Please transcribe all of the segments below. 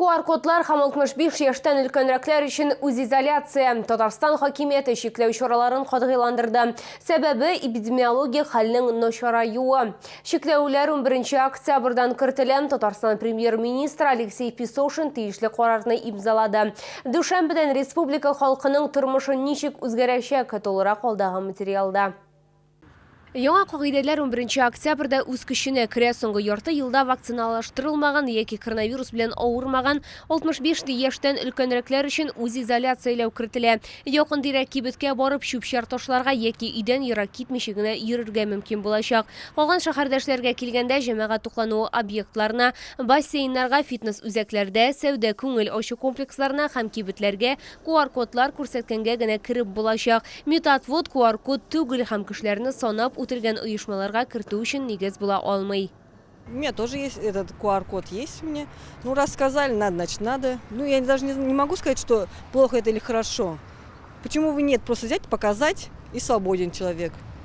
QR-кодлар һәм 65 яшьтән өлкәнрәкләр өчен үзизоляция Татарстан хакимияте чикләү чараларын катгыйландырды. Сәбәбе эпидемиологик хәлнең начараюы. Чикләүләр 11 октябрьдан кертелә. Татарстан премьер-министры Алексей Песошин тиешле карарны имзалады. Дүшәмбедән республика халкының тормышы ничек үзгәрәчәк, тулырак алдагы материалда. Яңа кагыйдәләр унберенче октябрьдә үз көченә керә. Соңгы ярты елда вакциналаштырылмаган яки коронавирус белән авырмаган 65 яшьтән өлкәнрәкләр өчен үзизоляцияләү кертелә. Якын-тирә кибеткә барып чүп-чар ташларга яки өйдән ерак китмичә генә йөрергә мөмкин булачак. Калган шәһәрдәшләргә килгәндә, җәмәгать туклануы объектларына, бассейннарга, фитнес-үзәкләрдә, сәүдә-күңел ачу комплексларына һәм кибетләргә QR-кодлар күрсәткәнгә генә кереп булачак. Метатвод QR-код түгел һәм кешеләрне санап үтелгән оешмаларга кертү өчен нигез була алмый. У меня тоже есть этот QR-код есть мне. Ну, раз сказали, надо, значит, надо. Ну, я даже не, не могу сказать, что плохо это или хорошо. Почему бы нет? Просто взять, показать, и свободен человек.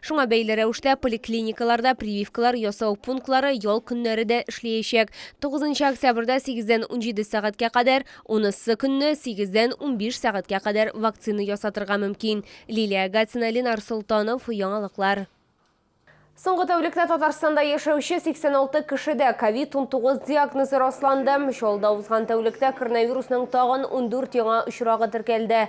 Шуңа бәйле рәвештә поликлиникаларда прививкалар ясау пунктлары ял көннәре дә эшләячәк. 9 октябрьдә 8 дән 17 сәгатькә кадәр, унысы көнне 8 дән 15 сәгатькә кадәр вакцина ясатырга мөмкин. Лилия Агатина, Ленар Солтанов, Яңалыклар. Соңгы тәүлектә Татарстанда яшәүче 86 кешедә ковид-19 диагнозы расланды. Чаллыда узган тәүлектә коронавирусның тагын ундүрт яңа очрагы теркәлде.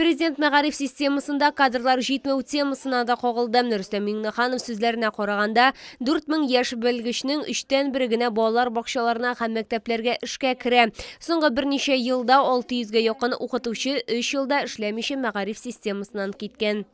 Президент мәгариф системасында кадрлар җитмәү темасына да кагылды. Рөстәм Миңнеханов сүзләренә караганда, 4000 яшь белгечнең өчтән бере генә балалар бакчаларына һәм мәктәпләргә эшкә керә. Соңгы берничә елда 600 гә якын укытучы өч елда эшләмичә мәгариф системасыннан киткән.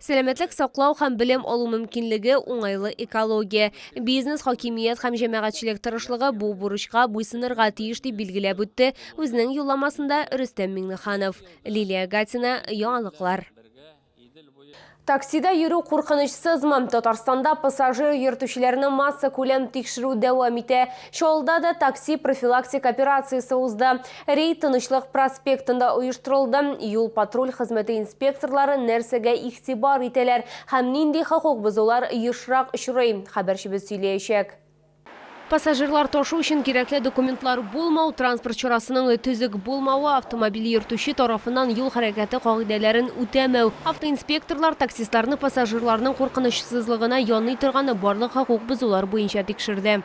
Сәламәтлек саклау һәм белем алу мөмкинлеге, уңайлы экология, бизнес, хакимият һәм җәмәгатьчелек тырышлыгы бу бурычка буйсынырга тиеш, дип билгеләп үтте үзенең юлламасында Рөстәм Миңнеханов. Лилия Гатина, Яңалыклар. Таксида йөрү куркынычсызмы? Татарстанда пассажир йөртүчеләрне массакүләм тикшерү дәвам итә. Чаллыда да такси профилактик операциясе узды. Рейд Тынычлык проспектында оештырылды. Юл-патруль хезмәте инспекторлары нәрсәгә игътибар итәләр һәм нинди хокук бозулар ешрак очрый, хәбәрчебез сөйләячәк. Пассажирлар ташу өчен кирәкле документлар булмау, транспорт чарасының төзек булмавы, автомобиль йөртүче тарафыннан юл хәрәкәте кагыйдәләрен үтәмәү, автоинспекторлар таксистларны пассажирларның куркынычсызлыгына яный торган барлык хокук бозулар буенча тикшерде.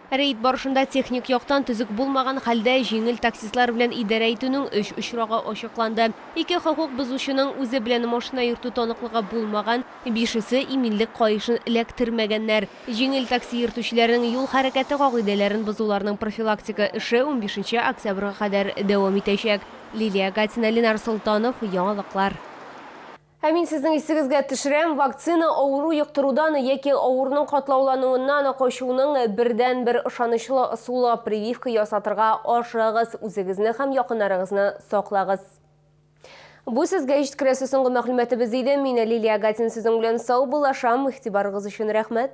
Рейд барышында техник яктан төзек булмаган хәлдә җиңел таксистлар белән идарә итүнең өч очрагы ачыкланды. Ике хокук бозучының үзе белән машина йөртү таныклыгы булмаган, бишесе иминлек каешын эләктермәгәннәр. Җиңел такси йөртүчеләрнең юл хәрәкәте кагыйдәләрен бозуларның профилактика эше унбишенче октябрьгә кадәр дәвам итәчәк. Лилия Гатина, Ленар Солтанов, яңалыклар. Ә мин сезнең исегезгә төшерәм, вакцина авыру йоктырудан яки авыруның катлаулануыннан качуның бердәнбер ышанычлы ысулы, прививка ясатырга ашыгыгыз, үзегезне һәм якыннарыгызны саклагыз. Бу сезгә җиткерәсе соңгы мәгълүматыбыз иде. Мин Лилия Агатин сезнең белән саубуллашам. Игътибарыгыз өчен рәхмәт.